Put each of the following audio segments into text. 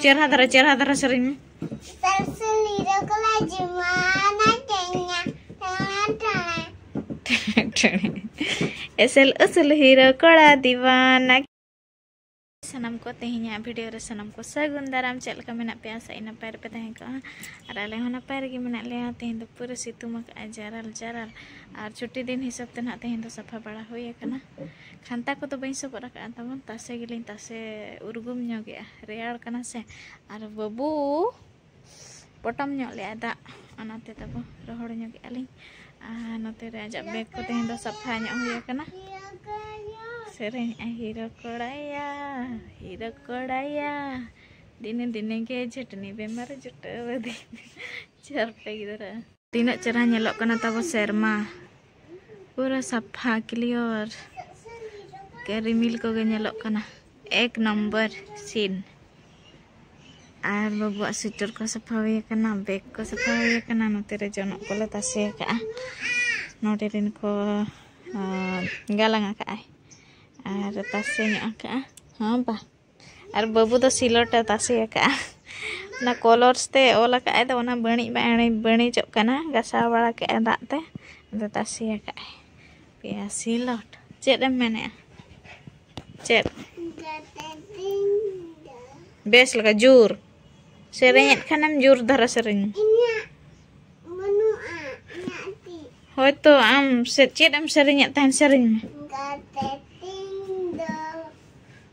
ᱪᱮᱨᱦᱟ ᱫᱷᱟᱨᱟ ᱪᱮᱨᱦᱟ ᱫᱷᱟᱨᱟ ᱥᱮᱨᱮᱧ ᱮᱥᱮᱞ ᱩᱥᱩᱞ ᱦᱤᱨᱳ ᱠᱚᱲᱟ ᱫᱤᱣᱟᱱᱟ ᱥᱟᱱᱟᱢ ᱠᱚ ᱛᱮᱦᱮᱧᱟᱜ ᱵᱷᱤᱰᱤᱭᱳ ᱨᱮ ᱥᱟᱱᱟᱢ ᱠᱚ ᱥᱟᱹᱜᱩᱱ ᱫᱟᱨᱟᱢ ᱪᱮᱫ ᱞᱮᱠᱟ ᱢᱮᱱᱟᱜ ᱯᱮᱭᱟ ᱥᱮ ᱱᱟᱯᱟᱭ ᱨᱮᱯᱮ ᱛᱟᱦᱮᱸ ᱠᱚᱜᱼᱟ ᱟᱨ ᱟᱞᱮ ᱦᱚᱸ ᱱᱟᱯᱟᱭ ᱨᱮᱜᱮ ᱢᱮᱱᱟᱜ ᱞᱮᱭᱟ ᱛᱮᱦᱮᱧ ᱫᱚ ᱯᱩᱨᱟᱹ ᱥᱤᱛᱩᱝ ᱟᱠᱟᱫᱼᱟ ᱡᱟᱨᱟᱞ ᱡᱟᱨᱟᱞ ᱟᱨ ᱪᱷᱩᱴᱤ ᱫᱤᱱ ᱦᱤᱥᱟᱹᱵ ᱛᱮ ᱱᱟᱦᱟᱜ ᱛᱮᱦᱮᱧ ᱫᱚ ᱥᱟᱯᱷᱟ ᱵᱟᱲᱟ ᱦᱩᱭ ᱟᱠᱟᱱᱟ ᱠᱷᱟᱱᱛᱟ ᱠᱚᱫᱚ ᱵᱟᱹᱧ ᱥᱚᱵᱚᱫ ᱟᱠᱟᱫᱼᱟ ᱛᱟᱵᱚᱱ ᱛᱟᱥᱮ ᱜᱮᱞᱤᱧ ᱛᱟᱥᱮ ᱩᱨᱜᱩᱢ ᱧᱚᱜᱮᱜᱼᱟ ᱨᱮᱭᱟᱲ ᱠᱟᱱᱟ ᱥᱮ ᱟᱨ ᱵᱟᱹᱵᱩ ᱯᱚᱴᱚᱢ ᱧᱚᱜ ᱞᱮᱜᱼᱟ ᱫᱟᱜ ᱚᱱᱟᱛᱮ ᱛᱟᱵᱚ ᱨᱚᱦᱚᱲ ᱧᱚᱜᱮᱜᱼᱟ ᱞᱤᱧ ᱟᱨ ᱱᱚᱛᱮ ᱨᱮ ᱟᱡᱟᱜ ᱵᱮᱜᱽ ᱠᱚ ᱛᱮᱦᱮᱧ ᱫᱚ ᱥᱟᱯᱷᱟ ᱧᱚᱜ ᱦᱩᱭ ᱟᱠᱟᱱᱟ ᱥᱮᱨᱮᱧ ᱟᱭ ᱦᱤᱨᱚ ᱠᱚᱲᱟᱭᱟ ᱦᱤᱨᱚ ᱠᱚᱲᱟᱭᱟ ᱫᱤᱱᱮ ᱫᱤᱱᱮ ᱜᱮ ᱡᱷᱟᱹᱴᱱᱤ ᱵᱮᱢᱟᱨ ᱡᱩᱴᱟᱹᱣ ᱟᱹᱫᱤᱧ ᱪᱟᱨᱯᱮ ᱜᱤᱫᱽᱨᱟᱹ ᱛᱤᱱᱟᱹᱜ ᱪᱮᱨᱦᱟ ᱧᱮᱞᱚᱜ ᱠᱟᱱᱟ ᱛᱟᱵᱚ ᱥᱮᱨᱢᱟ ᱯᱩᱨᱟᱹ ᱥᱟᱯᱷᱟ ᱠᱞᱤᱭᱚᱨ ᱨᱤᱢᱤᱞ ᱠᱚᱜᱮ ᱧᱮᱞᱚᱜ ᱠᱟᱱᱟ ᱮᱠ ᱱᱚᱢᱵᱚᱨ ᱥᱤᱱ ᱟᱨ ᱵᱟᱹᱵᱩᱣᱟᱜ ᱥᱩᱭᱴᱟᱨ ᱠᱚ ᱥᱟᱯᱷᱟ ᱦᱩᱭ ᱟᱠᱟᱱᱟ ᱵᱮᱜᱽ ᱠᱚ ᱥᱟᱯᱷᱟ ᱦᱩᱭ ᱟᱠᱟᱱᱟ ᱱᱚᱛᱮ ᱨᱮ ᱡᱚᱱᱚᱜ ᱠᱚᱞᱮ ᱛᱟᱥᱮ ᱟᱠᱟᱫᱼᱟ ᱱᱚᱰᱮ ᱨᱮᱱ ᱠᱚ ᱜᱟᱞᱟᱝ ᱟᱠᱟᱫᱼᱟᱭ ᱟᱨ ᱛᱟᱥᱮ ᱧᱚᱜ ᱟᱠᱟᱫᱼᱟ ᱦᱚᱸ ᱵᱟ ᱟᱨ ᱵᱟᱹᱵᱩ ᱫᱚ ᱥᱤᱞᱚᱴᱮ ᱛᱟᱥᱮ ᱟᱠᱟᱫᱼᱟ ᱚᱱᱟ ᱠᱚᱞᱚᱨᱥ ᱛᱮ ᱚᱞ ᱟᱠᱟᱫᱼᱟᱭ ᱫᱚ ᱚᱱᱟ ᱵᱟᱹᱬᱤᱡ ᱵᱟᱹᱬᱤᱡ ᱵᱟᱹᱬᱤᱡᱚᱜ ᱠᱟᱱᱟ ᱜᱟᱥᱟᱣ ᱵᱟᱲᱟ ᱠᱮᱫᱼᱟᱭ ᱫᱟᱜ ᱛᱮ ᱟᱫᱚ ᱛᱟᱥᱮ ᱟᱠᱟᱫᱼᱟᱭ ᱯᱮᱭᱟ ᱥᱤᱞᱚᱴ ᱪᱮᱫ ᱮᱢ ᱢᱮᱱᱮᱫᱼᱟ ᱪᱮᱫ ᱵᱮᱥ ᱞᱮᱠᱟ ᱡᱳᱨ ᱥᱮᱨᱮᱧᱮᱫ ᱠᱷᱟᱱᱮᱢ ᱡᱳᱨ ᱫᱷᱟᱨᱟ ᱥᱮᱨᱮᱧ ᱦᱳᱭᱛᱳ ᱟᱢ ᱪᱮᱫ ᱮᱢ ᱥᱮᱨᱮᱧᱮᱫ ᱛᱟᱦᱮᱱ ᱥᱮᱨᱮᱧ ᱢᱮ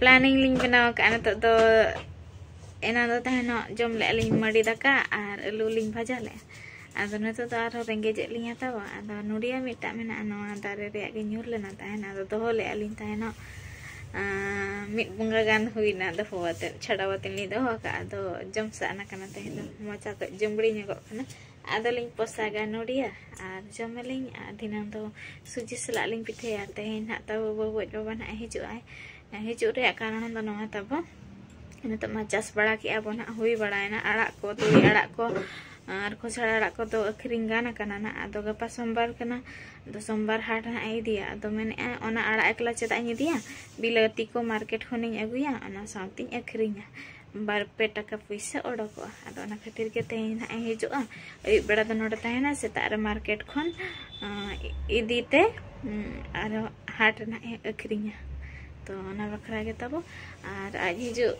ᱯᱞᱟᱱᱤᱝ ᱞᱤᱧ ᱵᱮᱱᱟᱣ ᱟᱠᱟᱫᱼᱟ ᱱᱤᱛᱚᱜ ᱫᱚ ᱮᱱᱟᱱ ᱫᱚ ᱛᱟᱦᱮᱱᱚᱜ ᱡᱚᱢ ᱞᱮᱜᱼᱟ ᱞᱤᱧ ᱢᱟᱹᱰᱤ ᱫᱟᱠᱟ ᱟᱨ ᱟᱹᱞᱩ ᱞᱤᱧ ᱵᱷᱟᱡᱟ ᱞᱮᱜᱼᱟ ᱟᱫᱚ ᱱᱤᱛᱚᱜ ᱫᱚ ᱟᱨᱦᱚᱸ ᱨᱮᱸᱜᱮᱡᱮᱫ ᱞᱤᱧ ᱦᱟᱛᱟᱣᱟ ᱟᱫᱚ ᱱᱚᱰᱤᱭᱟ ᱢᱤᱫᱴᱟᱝ ᱢᱮᱱᱟᱜᱼᱟ ᱱᱚᱣᱟ ᱫᱟᱨᱮ ᱨᱮᱭᱟᱜ ᱜᱮ ᱧᱩᱨ ᱞᱮᱱᱟ ᱛᱟᱦᱮᱱ ᱟᱫᱚ ᱫᱚᱦᱚ ᱞᱮᱜᱼᱟ ᱞᱤᱧ ᱛᱟᱦᱮᱱᱚᱜ ᱢᱤᱫ ᱵᱚᱸᱜᱟ ᱜᱟᱱ ᱦᱩᱭᱱᱟ ᱫᱚᱦᱚ ᱟᱛᱮᱫ ᱪᱷᱟᱰᱟᱣ ᱟᱛᱮᱫ ᱞᱤᱧ ᱫᱚᱦᱚ ᱟᱠᱟᱫᱼᱟ ᱟᱫᱚ ᱡᱚᱢ ᱥᱟᱜ ᱟᱠᱟᱱᱟ ᱛᱮᱦᱮᱧ ᱫᱚ ᱢᱚᱪᱟ ᱠᱚ ᱡᱩᱢᱵᱽᱲᱤ ᱧᱚᱜᱚᱜ ᱠᱟᱱᱟ ᱟᱫᱚᱞᱤᱧ ᱯᱚᱥᱟᱜᱟ ᱱᱚᱰᱤᱭᱟ ᱟᱨ ᱡᱚᱢᱟᱞᱤᱧ ᱟᱨ ᱫᱷᱤᱱᱟᱹᱝ ᱫᱚ ᱥᱩᱡᱤ ᱥᱟᱞᱟᱜ ᱞᱤᱧ ᱯᱤᱴᱷᱟᱹᱭᱟ ᱛᱮᱦᱮᱧ ᱱᱟᱜ ᱛᱟᱵᱚ ᱵᱟᱹᱵᱩᱡ ᱵᱟᱵᱟ ᱱᱟᱜ ᱦᱤᱡᱩᱜ ᱟᱭ ᱦᱤᱡᱩᱜ ᱨᱮᱭᱟᱜ ᱠᱟᱨᱚᱱ ᱫᱚ ᱱᱚᱣᱟ ᱛᱟᱵᱚ ᱱᱤᱛᱚᱜ ᱢᱟ ᱪᱟᱥ ᱵᱟᱲᱟ ᱠᱮᱜᱼᱟ ᱵᱚ ᱱᱟᱜ ᱦᱩᱭ ᱵᱟᱲᱟᱭᱮᱱᱟ ᱟᱲᱟᱜ ᱠᱚ ᱛᱩᱲᱤ ᱟᱲᱟᱜ ᱠᱚ ᱟᱨ ᱠᱷᱚᱥᱲᱟ ᱟᱲᱟᱜ ᱠᱚᱫᱚ ᱟᱹᱠᱷᱨᱤᱧ ᱜᱟᱱ ᱟᱠᱟᱱᱟ ᱱᱟᱜ ᱟᱫᱚ ᱜᱟᱯᱟ ᱥᱳᱢᱵᱟᱨ ᱠᱟᱱᱟ ᱟᱫᱚ ᱥᱳᱢᱵᱟᱨ ᱦᱟᱴ ᱱᱟᱜ ᱤᱫᱤᱭᱟ ᱟᱫᱚ ᱢᱮᱱᱮᱜᱼᱟ ᱚᱱᱟ ᱟᱲᱟᱜ ᱮᱠᱞᱟ ᱪᱮᱫᱟᱜ ᱤᱧ ᱤᱫᱤᱭᱟ ᱵᱤᱞᱟᱹᱛᱤ ᱠᱚ ᱢᱟᱨᱠᱮᱴ ᱠᱷᱚᱱᱤᱧ ᱟᱹᱜᱩᱭᱟ ᱚᱱᱟ ᱥᱟᱶᱛᱮᱧ ᱟᱹᱠᱷᱨᱤᱧᱟ ᱵᱟᱨ ᱯᱮ ᱴᱟᱠᱟ ᱯᱚᱭᱥᱟ ᱚᱰᱚᱠᱚᱜᱼᱟ ᱟᱫᱚ ᱚᱱᱟ ᱠᱷᱟᱹᱛᱤᱨ ᱜᱮ ᱛᱮᱦᱮᱧ ᱱᱟᱜ ᱮ ᱦᱤᱡᱩᱜᱼᱟ ᱟᱹᱭᱩᱵ ᱵᱮᱲᱟ ᱫᱚ ᱱᱚᱰᱮ ᱛᱟᱦᱮᱱᱟ ᱥᱮᱛᱟᱜ ᱨᱮ ᱢᱟᱨᱠᱮᱴ ᱠᱷᱚᱱ ᱤᱫᱤ ᱛᱮ ᱟᱨᱚ ᱦᱟᱴ ᱨᱮ ᱱᱟᱜ ᱮ ᱟᱹᱠᱷᱨᱤᱧᱟ ᱛᱚ ᱚᱱᱟ ᱵᱟᱠᱷᱨᱟ ᱜᱮ ᱛᱟᱵᱚ ᱟᱨ ᱟᱡ ᱦᱤᱡᱩᱜ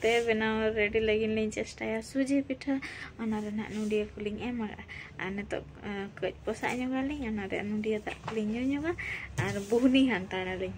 ᱛᱮ ᱵᱮᱱᱟᱣ ᱨᱮᱰᱤ ᱞᱟᱹᱜᱤᱫ ᱞᱤᱧ ᱪᱮᱥᱴᱟᱭᱟ ᱥᱩᱡᱤ ᱯᱤᱴᱷᱟᱹ ᱚᱱᱟ ᱨᱮᱱᱟᱜ ᱱᱩᱰᱤᱭᱟᱹ ᱠᱚᱞᱤᱧ ᱮᱢᱟ ᱟᱨ ᱱᱤᱛᱚᱜ ᱠᱟᱹᱡ ᱯᱚᱥᱟᱜ ᱧᱚᱜᱟᱞᱤᱧ ᱚᱱᱟ ᱨᱮᱭᱟᱜ ᱱᱩᱰᱤᱭᱟᱹ ᱫᱟᱜ ᱠᱚᱞᱤᱧ ᱧᱩ ᱧᱚᱜᱟ ᱟᱨ ᱵᱩᱦᱱᱤ ᱦᱟᱱᱛᱟᱲᱟᱞᱤᱧ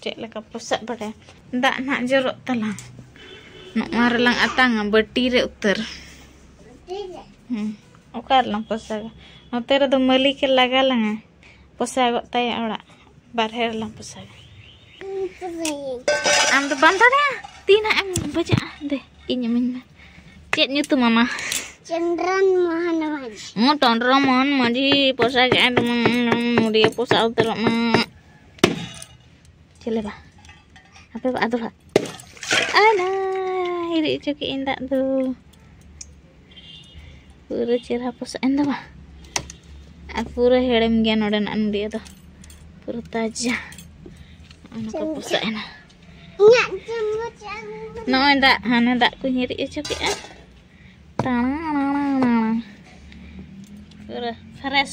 ᱪᱮᱫ ᱞᱮᱠᱟ ᱯᱚᱥᱟᱜ ᱵᱟᱲᱟᱭᱟ ᱫᱟᱜ ᱱᱟᱦᱟᱜ ᱡᱚᱨᱚᱜ ᱛᱟᱞᱟᱝ ᱱᱚᱣᱟ ᱨᱮᱞᱟᱝ ᱟᱛᱟᱝᱟ ᱵᱟᱹᱴᱤ ᱨᱮ ᱩᱛᱟᱹᱨ ᱦᱮᱸ ᱚᱠᱟ ᱨᱮᱞᱟᱝ ᱯᱚᱥᱟᱜᱟ ᱱᱚᱛᱮ ᱨᱮᱫᱚ ᱢᱟᱹᱞᱤᱠᱮ ᱞᱟᱜᱟ ᱞᱟᱝᱟ ᱯᱚᱥᱟᱜᱚᱜ ᱛᱟᱭᱟ ᱚᱲᱟᱜ ᱵᱟᱨᱦᱮ ᱨᱮᱞᱟᱝ ᱯᱚᱥᱟᱜᱟ ᱟᱢ ᱫᱚ ᱵᱟᱢ ᱫᱟᱲᱮᱭᱟᱜᱼᱟ ᱛᱤ ᱱᱟᱜ ᱮᱢ ᱵᱟᱡᱟᱜᱼᱟ ᱫᱮ ᱤᱧ ᱤᱢᱟᱹᱧ ᱢᱮ ᱪᱮᱫ ᱧᱩᱛᱩᱢ ᱟᱢᱟ ᱪᱚᱱᱫᱨᱚᱱ ᱢᱳᱦᱚᱱ ᱢᱟᱹᱡᱷᱤ ᱦᱚᱸ ᱪᱚᱱᱫᱨᱚ ᱢᱳᱦᱚᱱ ᱢᱟᱹᱡᱷᱤ ᱯᱚᱥᱟᱜᱮᱜᱼᱟᱭ ᱫᱚᱢᱮ ᱢᱩᱰᱤᱭᱮ ᱯᱚᱥᱟᱜ ᱩᱛᱟᱹᱨᱚᱜ ᱢᱟ ᱪᱮᱞᱮ ᱵᱟ ᱟᱯᱮ ᱵᱟ ᱟᱫᱚ ᱵᱟ ᱟᱞᱟ ᱦᱤᱨᱤᱡ ᱦᱚᱪᱚ ᱠᱮᱫ ᱤᱧ ᱫᱟᱜ ᱫᱚ ᱯᱩᱨᱟᱹ ᱪᱮᱨᱦᱟ ᱯᱚᱥᱟᱜ ᱮᱱ ᱫᱚ ᱵᱟ ᱟᱨ ᱯᱩᱨᱟᱹ ᱦᱮᱲᱮᱢ ᱜᱮᱭᱟ ᱱᱚᱰᱮᱱᱟᱜ ᱱᱩᱰᱤᱭᱟᱹ ᱫᱚ ᱯᱩᱨᱟᱹ ᱛᱟᱡᱟ ᱚᱱᱟ ᱠᱚ ᱯᱚᱥᱟᱜ ᱮᱱᱟ ᱱᱚᱜᱼᱚᱭ ᱫᱟᱜ ᱦᱟᱱᱮ ᱫᱟᱜ ᱠᱚᱧ ᱦᱤᱨᱤᱡ ᱦᱚᱪᱚ ᱠᱮᱫᱼᱟ ᱛᱟᱲᱟᱝ ᱯᱩᱨᱟᱹ ᱯᱷᱨᱮᱥ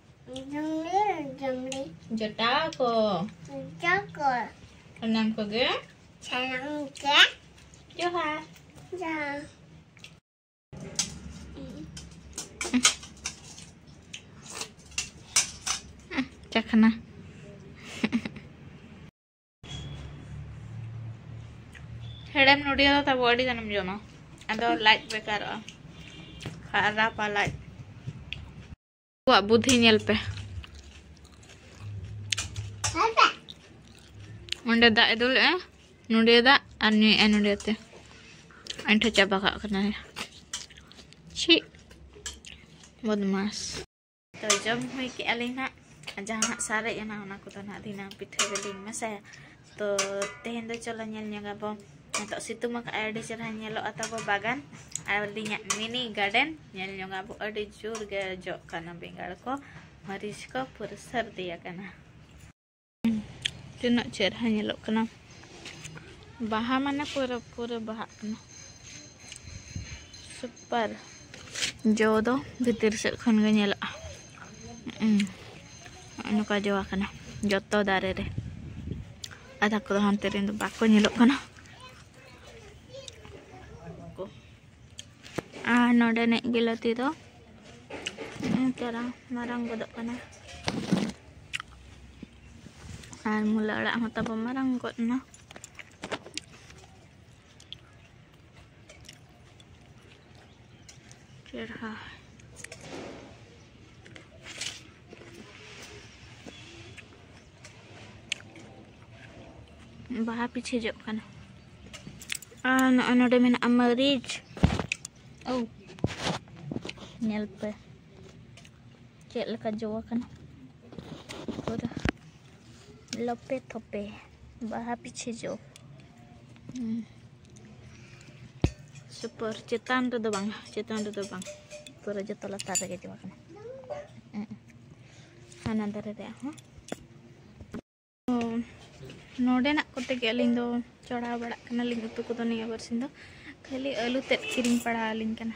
ᱡᱚᱴᱟᱣ ᱠᱚ ᱥᱟᱱᱟᱢ ᱠᱚᱜᱮ ᱡᱚᱦᱟᱨ ᱡᱚᱦᱟᱨ ᱪᱟᱠᱷᱱᱟ ᱦᱮᱲᱮᱢ ᱱᱩᱰᱤᱭᱟᱹ ᱫᱚ ᱛᱟᱵᱚ ᱟᱹᱰᱤ ᱜᱟᱱᱮᱢ ᱡᱚᱢᱟ ᱟᱫᱚ ᱞᱟᱡ ᱵᱮᱠᱟᱨᱚᱜᱼᱟ ᱠᱷᱟᱨᱟᱯᱟ ᱞᱟᱡ ᱟᱠᱚᱣᱟᱜ ᱵᱩᱫᱷᱤ ᱧᱮᱞ ᱯᱮ ᱚᱸᱰᱮ ᱫᱟᱜ ᱮ ᱫᱩᱞᱮᱜᱼᱟ ᱱᱚᱰᱮ ᱫᱟᱜ ᱟᱨ ᱧᱩᱭᱮᱜᱼᱟ ᱱᱚᱰᱮ ᱛᱮ ᱟᱹᱰᱤ ᱴᱷᱮᱡ ᱪᱟᱵᱟ ᱠᱟᱜ ᱠᱟᱱᱟᱭ ᱪᱷᱤ ᱵᱚᱫᱢᱟᱥ ᱛᱚ ᱡᱚᱢ ᱦᱩᱭ ᱠᱮᱜᱼᱟ ᱞᱤᱧ ᱦᱟᱸᱜ ᱡᱟᱦᱟᱸ ᱦᱟᱸᱜ ᱥᱟᱨᱮᱡ ᱮᱱᱟ ᱚᱱᱟ ᱠᱚᱫᱚ ᱦᱟᱸᱜ ᱫᱷᱤᱱᱟᱹᱝ ᱯᱤᱴᱷᱟᱹ ᱨᱮᱞᱤᱧ ᱢᱮᱥᱟᱭᱟ ᱛᱚ ᱛᱮᱦᱮᱧ ᱫᱚ ᱪᱚᱞᱚ ᱧᱮᱞ ᱧᱚᱜᱟ ᱵᱚ ᱱᱤᱛᱚᱜ ᱥᱤᱛᱩᱝ ᱟᱠᱟᱫ ᱟᱭ ᱟᱹᱰᱤ ᱪᱮᱨᱦᱟ ᱧᱮᱞᱚᱜᱼᱟ ᱛᱟᱵᱚ ᱵᱟᱜᱟᱱ ᱟᱨ ᱟᱹᱞᱤᱧᱟᱜ ᱢᱤᱱᱤ ᱜᱟᱨᱰᱮᱱ ᱧᱮᱞ ᱧᱚᱜᱟ ᱵᱚ ᱟᱹᱰᱤ ᱡᱳᱨ ᱜᱮ ᱡᱚᱜ ᱠᱟᱱᱟ ᱵᱮᱸᱜᱟᱲ ᱠᱚ ᱢᱟᱹᱨᱤᱪ ᱠᱚ ᱯᱩᱨᱟᱹ ᱥᱟᱹᱨᱫᱤ ᱟᱠᱟᱱᱟ ᱛᱤᱱᱟᱹᱜ ᱪᱮᱨᱦᱟ ᱧᱮᱞᱚᱜ ᱠᱟᱱᱟ ᱵᱟᱦᱟ ᱢᱟᱱᱮ ᱯᱩᱨᱟᱹ ᱯᱩᱨᱟᱹ ᱵᱟᱦᱟᱜ ᱠᱟᱱᱟ ᱥᱩᱯᱟᱨ ᱡᱚ ᱫᱚ ᱵᱷᱤᱛᱤᱨ ᱥᱮᱫ ᱠᱷᱚᱱ ᱜᱮ ᱧᱮᱞᱚᱜᱼᱟ ᱱᱚᱝᱠᱟ ᱡᱚ ᱟᱠᱟᱱᱟ ᱡᱚᱛᱚ ᱫᱟᱨᱮ ᱨᱮ ᱟᱫᱷᱟ ᱠᱚᱫᱚ ᱦᱟᱱᱛᱮ ᱨᱮᱱ ᱫᱚ ᱵᱟᱠᱚ ᱧᱮᱞᱚᱜ ᱠᱟᱱᱟ ᱟᱨ ᱱᱚᱰᱮᱱᱤᱡ ᱵᱤᱞᱟᱹᱛᱤ ᱫᱚ ᱪᱟᱨᱟ ᱢᱟᱨᱟᱝ ᱜᱚᱫᱚᱜ ᱠᱟᱱᱟ ᱟᱨ ᱢᱩᱞᱟᱹ ᱟᱲᱟᱜ ᱦᱚᱸ ᱛᱟᱵᱚ ᱢᱟᱨᱟᱝ ᱜᱚᱫ ᱮᱱᱟ ᱪᱮᱨᱦᱟ ᱵᱟᱦᱟ ᱯᱤᱪᱷᱤ ᱡᱚᱜ ᱠᱟᱱᱟ ᱟᱨ ᱱᱚᱜᱼᱚᱭ ᱱᱚᱰᱮ ᱢᱮᱱᱟᱜᱼᱟ ᱢᱟᱹᱨᱤᱪ ᱳ ᱧᱮᱞ ᱯᱮ ᱪᱮᱫ ᱞᱮᱠᱟ ᱡᱚ ᱟᱠᱟᱱᱟ ᱯᱩᱨᱟᱹ ᱞᱚᱯᱮ ᱛᱷᱚᱯᱮ ᱵᱟᱦᱟ ᱯᱤᱪᱷᱤ ᱡᱚ ᱥᱩᱯᱟᱨ ᱪᱮᱛᱟᱱ ᱨᱮᱫᱚ ᱵᱟᱝ ᱪᱮᱛᱟᱱ ᱨᱮᱫᱚ ᱵᱟᱝ ᱯᱩᱨᱟᱹ ᱡᱚᱛᱚ ᱞᱟᱛᱟᱨ ᱨᱮᱜᱮ ᱡᱚ ᱠᱟᱱᱟ ᱦᱟᱱᱟ ᱫᱟᱨᱮ ᱨᱮᱭᱟᱜ ᱦᱚᱸ ᱱᱚᱰᱮᱱᱟᱜ ᱠᱚᱛᱮ ᱜᱮ ᱟᱹᱞᱤᱧ ᱫᱚ ᱪᱚᱲᱟᱣ ᱵᱟᱲᱟᱜ ᱠᱟᱱᱟᱞᱤᱧ ᱩᱛᱩ ᱠᱚᱫᱚ ᱱᱤᱭᱟᱹ ᱵᱟᱨᱥᱤᱧ ᱫᱚ ᱠᱷᱟᱹᱞᱤ ᱟᱹᱞᱩ ᱛᱮᱫ ᱠᱤᱨᱤᱧ ᱯᱟᱲᱟᱣ ᱟᱹᱞᱤᱧ ᱠᱟᱱᱟ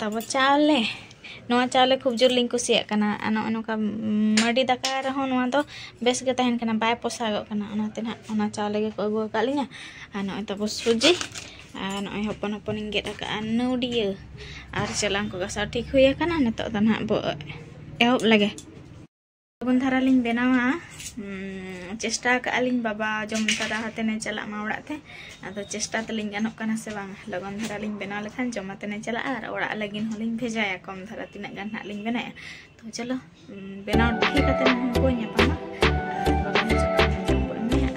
ᱛᱟᱵᱚ ᱪᱟᱣᱞᱮ ᱱᱚᱣᱟ ᱪᱟᱣᱞᱮ ᱠᱷᱩᱵ ᱡᱳᱨ ᱞᱤᱧ ᱠᱩᱥᱤᱭᱟᱜ ᱠᱟᱱᱟ ᱟᱨ ᱱᱚᱜᱼᱚᱭ ᱱᱚᱝᱠᱟ ᱢᱟᱹᱰᱤ ᱫᱟᱠᱟ ᱨᱮᱦᱚᱸ ᱱᱚᱣᱟ ᱫᱚ ᱵᱮᱥ ᱜᱮ ᱛᱟᱦᱮᱱ ᱠᱟᱱᱟ ᱵᱟᱭ ᱯᱚᱥᱟᱜᱚᱜ ᱠᱟᱱᱟ ᱚᱱᱟᱛᱮ ᱱᱟᱜ ᱚᱱᱟ ᱪᱟᱣᱞᱮ ᱜᱮᱠᱚ ᱟᱹᱜᱩ ᱟᱠᱟᱫ ᱞᱤᱧᱟᱹ ᱟᱨ ᱱᱚᱜᱼᱚᱭ ᱛᱟᱵᱚ ᱥᱩᱡᱤ ᱟᱨ ᱱᱚᱜᱼᱚᱭ ᱦᱚᱯᱚᱱ ᱦᱚᱯᱚᱱ ᱤᱧ ᱜᱮᱫ ᱟᱠᱟᱫᱼᱟ ᱱᱟᱹᱣᱰᱤᱭᱟᱹ ᱟᱨ ᱪᱮᱞᱟᱝ ᱠᱚ ᱜᱟᱥᱟᱣ ᱴᱷᱤᱠ ᱦᱩᱭ ᱟᱠᱟᱱᱟ ᱱᱤᱛᱚᱜ ᱫᱚ ᱱᱟᱜ ᱵᱚ ᱮᱦᱚᱵ ᱞᱮᱜᱮ ᱞᱚᱜᱚᱱ ᱫᱷᱟᱨᱟ ᱞᱤᱧ ᱵᱮᱱᱟᱣᱟ ᱪᱮᱥᱴᱟ ᱟᱠᱟᱫ ᱟᱹᱞᱤᱧ ᱵᱟᱵᱟ ᱡᱚᱢ ᱛᱟᱨᱟ ᱦᱟᱛᱮᱱᱮ ᱪᱟᱞᱟᱜ ᱢᱟ ᱚᱲᱟᱜ ᱛᱮ ᱟᱫᱚ ᱪᱮᱥᱴᱟ ᱛᱟᱹᱞᱤᱧ ᱜᱟᱱᱚᱜ ᱠᱟᱱᱟ ᱥᱮ ᱵᱟᱝ ᱞᱚᱜᱚᱱ ᱫᱷᱟᱨᱟ ᱞᱤᱧ ᱵᱮᱱᱟᱣ ᱞᱮᱠᱷᱟᱱ ᱡᱚᱢ ᱟᱛᱮᱱᱮ ᱪᱟᱞᱟᱜᱼᱟ ᱟᱨ ᱚᱲᱟᱜ ᱞᱟᱹᱜᱤᱫ ᱦᱚᱸᱞᱤᱧ ᱵᱷᱮᱡᱟᱭᱟ ᱠᱚᱢ ᱫᱷᱟᱨᱟ ᱛᱤᱱᱟᱹᱜ ᱜᱟᱱ ᱦᱟᱸᱜ ᱞᱤᱧ ᱵᱮᱱᱟᱭᱟ ᱛᱚ ᱪᱚᱞᱚ ᱵᱮᱱᱟᱣ ᱴᱷᱤᱠ ᱠᱟᱛᱮ ᱩᱱᱠᱩ ᱧᱟᱯᱟᱢᱟ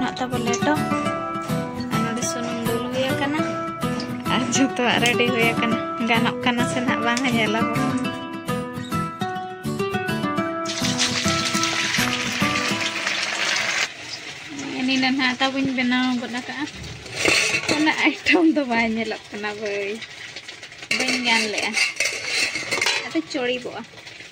ᱱᱟᱜ ᱛᱟᱵᱚ ᱞᱮᱴᱚ ᱟᱨ ᱱᱚᱰᱮ ᱥᱩᱱᱩᱢ ᱫᱩᱞ ᱦᱩᱭ ᱟᱠᱟᱱᱟ ᱟᱨ ᱡᱚᱛᱚᱣᱟᱜ ᱨᱮᱰᱤ ᱦᱩᱭ ᱟᱠᱟᱱᱟ ᱜᱟᱱᱚᱜ ᱠᱟᱱᱟ ᱥᱮ ᱱᱟᱜ ᱵᱟᱝᱟ ᱧᱮᱞᱟᱵᱚᱱ ᱱᱤᱱᱟᱹ ᱱᱟᱜ ᱛᱟᱵᱚᱧ ᱵᱮᱱᱟᱣ ᱜᱚᱫ ᱟᱠᱟᱜᱼᱟ ᱚᱱᱟ ᱟᱭᱴᱚᱢ ᱫᱚ ᱵᱟᱭ ᱧᱮᱞᱚᱜ ᱠᱟᱱᱟ ᱵᱟᱹᱭ ᱵᱟᱹᱧ ᱜᱟᱱ ᱞᱮᱜᱼᱟ ᱟᱫᱚ ᱪᱚᱲᱤᱵᱚᱜᱼᱟ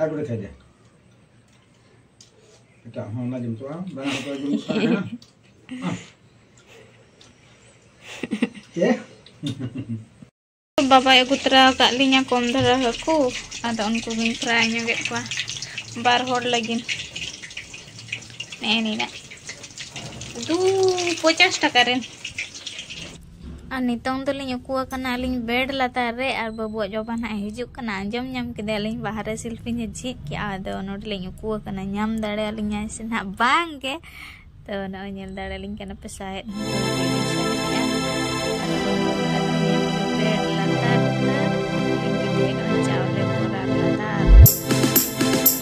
ᱟᱨ ᱵᱚᱞᱮ ᱠᱷᱟᱡᱟ ᱮᱴᱟᱜ ᱦᱚᱸ ᱚᱱᱟ ᱡᱚᱢ ᱛᱚᱜᱼᱟ ᱵᱟᱝ ᱦᱚᱸ ᱡᱚᱢ ᱛᱚᱜᱼᱟ ᱪᱮ ᱵᱟᱵᱟᱭ ᱟᱹᱜᱩ ᱛᱚᱨᱟ ᱟᱠᱟᱫ ᱞᱤᱧᱟ ᱠᱚᱢ ᱫᱷᱟᱨᱟ ᱦᱟᱹᱠᱩ ᱟᱫᱚ ᱩᱱᱠᱩ ᱜᱤᱧ ᱯᱷᱨᱟᱭ ᱧᱚᱜᱮᱫ ᱠᱚᱣᱟ ᱵᱟᱨ ᱦᱚᱲ ᱞᱟᱹᱜᱤᱫ ᱱᱮᱜᱼᱮ ᱱᱤᱱᱟᱹᱜ ᱫᱩ ᱯᱚᱪᱟᱥ ᱴᱟᱠᱟ ᱨᱮᱱ ᱟᱨ ᱱᱤᱛᱚᱝ ᱫᱚᱞᱤᱧ ᱩᱠᱩ ᱟᱠᱟᱱᱟ ᱟᱹᱞᱤᱧ ᱵᱮᱰ ᱞᱟᱛᱟᱨ ᱨᱮ ᱟᱨ ᱵᱟᱹᱵᱩᱣᱟᱜ ᱡᱚᱵᱟ ᱱᱟᱦᱟᱜ ᱦᱤᱡᱩᱜ ᱠᱟᱱᱟ ᱟᱸᱡᱚᱢ ᱧᱟᱢ ᱠᱮᱫᱟᱞᱤᱧ ᱵᱟᱦᱨᱮ ᱥᱤᱞᱯᱤᱧᱮ ᱡᱷᱤᱡ ᱠᱮᱜᱼᱟ ᱟᱫᱚ ᱱᱚᱰᱮᱞᱤᱧ ᱩᱠᱩ ᱟᱠᱟᱱᱟ ᱧᱟᱢ ᱫᱟᱲᱮᱭᱟᱞᱤᱧᱟᱭ ᱥᱮ ᱱᱟᱦᱟᱜ ᱵᱟᱝ ᱜᱮ ᱛᱚ ᱱᱚᱜᱼᱚᱭ ᱧᱮᱞ ᱫᱟᱲᱮᱭᱟᱞᱤᱧ ᱠᱟᱱᱟ ᱯᱮ ᱥᱟᱦᱮᱫ Thank you.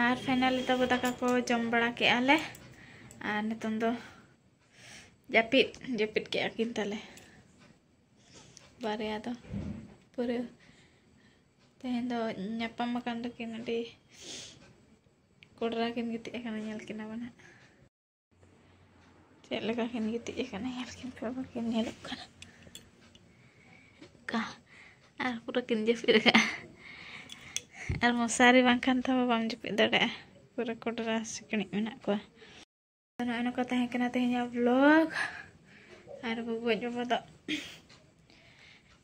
ᱟᱨ ᱯᱷᱟᱭᱱᱟᱞᱤ ᱛᱟᱵᱚ ᱫᱟᱠᱟ ᱠᱚ ᱡᱚᱢ ᱵᱟᱲᱟ ᱠᱮᱜᱼᱟ ᱞᱮ ᱟᱨ ᱱᱤᱛᱚᱝ ᱫᱚ ᱡᱟᱹᱯᱤᱫ ᱡᱟᱹᱯᱤᱫ ᱠᱮᱜᱼᱟ ᱠᱤᱱ ᱛᱟᱞᱮ ᱵᱟᱨᱭᱟ ᱫᱚ ᱯᱩᱨᱟᱹ ᱛᱮᱦᱮᱧ ᱫᱚ ᱧᱟᱯᱟᱢ ᱟᱠᱟᱱ ᱫᱚᱠᱤᱱ ᱟᱹᱰᱤ ᱠᱚᱰᱨᱟ ᱠᱤᱱ ᱜᱤᱛᱤᱡ ᱟᱠᱟᱱᱟ ᱧᱮᱞ ᱠᱤᱱᱟ ᱵᱚᱱ ᱦᱟᱸᱜ ᱪᱮᱫ ᱞᱮᱠᱟ ᱠᱤᱱ ᱜᱤᱛᱤᱡ ᱟᱠᱟᱱᱟ ᱧᱮᱞ ᱠᱤᱱ ᱯᱮ ᱵᱟᱹᱠᱤᱱ ᱧᱮᱞᱚᱜ ᱠᱟᱱᱟ ᱚᱱᱠᱟ ᱟᱨ ᱯᱩᱨᱟᱹ ᱠᱤᱱ ᱡᱟᱹᱯᱤᱫ ᱟᱠᱟᱫᱼᱟ ᱟᱨ ᱢᱚᱥᱟᱨᱤ ᱵᱟᱝᱠᱷᱟᱱ ᱛᱮᱦᱚᱸ ᱵᱟᱢ ᱡᱟᱹᱯᱤᱫ ᱫᱟᱲᱮᱭᱟᱜᱼᱟ ᱯᱩᱨᱟᱹ ᱠᱚᱰᱨᱟ ᱥᱤᱠᱬᱤᱡ ᱢᱮᱱᱟᱜ ᱠᱚᱣᱟ ᱱᱚᱜᱼᱚᱭ ᱱᱚᱝᱠᱟ ᱛᱟᱦᱮᱸ ᱠᱟᱱᱟ ᱛᱮᱦᱮᱧᱟᱜ ᱵᱞᱚᱜ ᱟᱨ ᱜᱚᱜᱚᱡ ᱵᱟᱵᱟ ᱫᱚ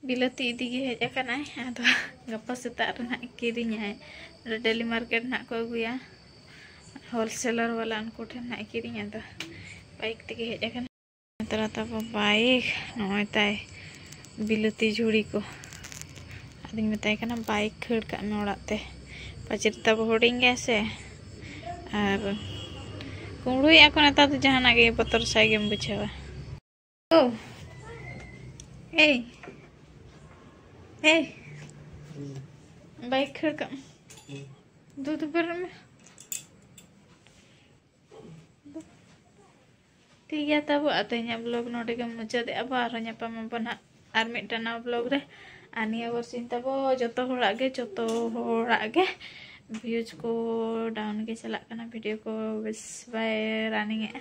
ᱵᱤᱞᱟᱹᱛᱤ ᱤᱫᱤ ᱜᱮ ᱦᱮᱡ ᱟᱠᱟᱱᱟᱭ ᱟᱫᱚ ᱜᱟᱯᱟ ᱥᱮᱛᱟᱜ ᱨᱮ ᱱᱟᱦᱟᱜ ᱠᱤᱨᱤᱧᱟᱭ ᱱᱚᱰᱮ ᱰᱮᱞᱤ ᱢᱟᱨᱠᱮᱴ ᱱᱟᱦᱟᱜ ᱠᱚ ᱟᱹᱜᱩᱭᱟ ᱦᱳᱞᱥᱮᱞᱟᱨ ᱵᱟᱞᱟ ᱩᱱᱠᱩ ᱴᱷᱮᱱ ᱱᱟᱦᱟᱜ ᱠᱤᱨᱤᱧ ᱟᱫᱚ ᱵᱟᱭᱤᱠ ᱛᱮᱜᱮ ᱦᱮᱡ ᱟᱠᱟᱱᱟ ᱛᱚᱨᱟ ᱛᱟᱵᱚ ᱵᱟᱭᱤᱠ ᱱᱚᱜᱼᱚᱭ ᱛᱟᱭ ᱵᱤᱞᱟᱹᱛᱤ ᱡᱷᱩᱲᱤ ᱠᱚ ᱟᱫᱚᱧ ᱢᱮᱛᱟᱭ ᱠᱟᱱᱟ ᱵᱟᱭᱤᱠ ᱠᱷᱟᱹᱲ ᱠᱟᱜ ᱢᱮ ᱚᱲᱟᱜ ᱛᱮ ᱯᱟᱪᱮᱫ ᱛᱟᱵᱚ ᱦᱩᱰᱤᱧ ᱜᱮᱭᱟ ᱥᱮ ᱟᱨ ᱠᱩᱢᱲᱩᱭᱮᱫᱼᱟ ᱠᱚ ᱱᱮᱛᱟᱨ ᱫᱚ ᱡᱟᱦᱟᱱᱟᱜ ᱜᱮ ᱵᱚᱛᱚᱨ ᱥᱟᱭ ᱜᱮᱢ ᱵᱩᱡᱷᱟᱹᱣᱟ Oh. Hey. Hey. Bike her come. Do the burn. ᱴᱷᱤᱠ ᱜᱮᱭᱟ ᱛᱟᱵᱚ ᱟᱨ ᱛᱮᱦᱮᱧᱟᱜ ᱵᱞᱚᱜ ᱱᱚᱰᱮ ᱜᱮ ᱢᱩᱪᱟᱹᱫᱮᱜᱼᱟ ᱵᱚ ᱟᱨᱦᱚᱸ ᱧᱟᱯᱟᱢ ᱟᱵᱚᱱ ᱦᱟᱸᱜ ᱟᱨ ᱢᱤᱫᱴᱟᱝ ᱱᱟᱣᱟ ᱵᱞᱚᱜ ᱨᱮ ᱟᱨ ᱱᱤᱭᱟᱹ ᱵᱚᱨᱥᱤᱧ ᱛᱟᱵᱚ ᱡᱚᱛᱚ ᱦᱚᱲᱟᱜ ᱜᱮ ᱡᱚᱛᱚ ᱦᱚᱲᱟᱜ ᱜᱮ ᱵᱷᱤᱭᱩᱡᱽ ᱠᱚ ᱰᱟᱣᱩᱱ ᱜᱮ ᱪᱟᱞᱟᱜ ᱠᱟᱱᱟ ᱵᱷᱤᱰᱤᱭᱳ ᱠᱚ ᱵᱮᱥ ᱵᱟᱭ ᱨᱟᱱᱤᱝ ᱮᱜᱼᱟ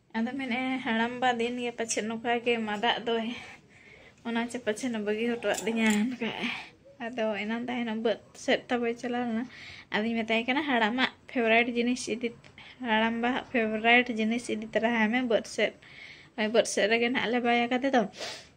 ᱟᱫᱚ ᱢᱮᱱᱮᱫᱼᱟ ᱦᱟᱲᱟᱢᱵᱟ ᱫᱤᱱ ᱜᱮ ᱯᱟᱪᱷᱮ ᱱᱚᱝᱠᱟ ᱜᱮ ᱢᱟᱫᱟᱜ ᱫᱚᱭ ᱚᱱᱟ ᱪᱮ ᱯᱟᱪᱷᱮ ᱵᱟᱹᱜᱤ ᱦᱚᱴᱚᱣᱟᱜ ᱫᱤᱧᱟ ᱚᱱᱠᱟᱭ ᱟᱫᱚ ᱮᱱᱟᱱ ᱛᱟᱦᱮᱱᱟ ᱵᱟᱹᱫ ᱥᱮᱫ ᱛᱟᱵᱚᱭ ᱪᱟᱞᱟᱣ ᱞᱮᱱᱟ ᱟᱫᱚᱧ ᱢᱮᱛᱟᱭ ᱠᱟᱱᱟ ᱦᱟᱲᱟᱢᱟᱜ ᱯᱷᱮᱵᱚᱨᱟᱭᱤᱴ ᱡᱤᱱᱤᱥ ᱤᱫᱤ ᱦᱟᱲᱟᱢᱵᱟ ᱯᱷᱮᱵᱚᱨᱟᱭᱤᱴ ᱡᱤᱱᱤᱥ ᱤᱫᱤ ᱛᱚᱨᱟᱭ ᱢᱮ ᱵᱟᱹᱫ ᱥᱮᱫ ᱵᱟᱹᱫ ᱥᱮᱫ ᱨᱮᱜᱮ ᱱᱟᱦᱟᱜ ᱞᱮ ᱵᱟᱭ ᱟᱠᱟᱫᱮ ᱫᱚ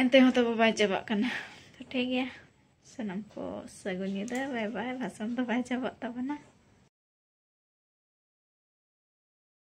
ᱮᱱᱛᱮ ᱦᱚᱸ ᱛᱟᱵᱚ ᱵᱟᱭ ᱪᱟᱵᱟᱜ ᱠᱟᱱᱟ ᱛᱚ ᱴᱷᱤᱠ ᱜᱮᱭᱟ ᱥᱟᱱᱟᱢ ᱠᱚ ᱥᱟᱹᱜᱩᱱ ᱧᱤᱫᱟᱹ ᱵᱟᱭ ᱵᱟᱭ ᱵᱷᱟᱥᱚᱱ ᱫᱚ ᱵᱟᱭ ᱪᱟᱵᱟᱜ ᱛᱟᱵᱚᱱᱟ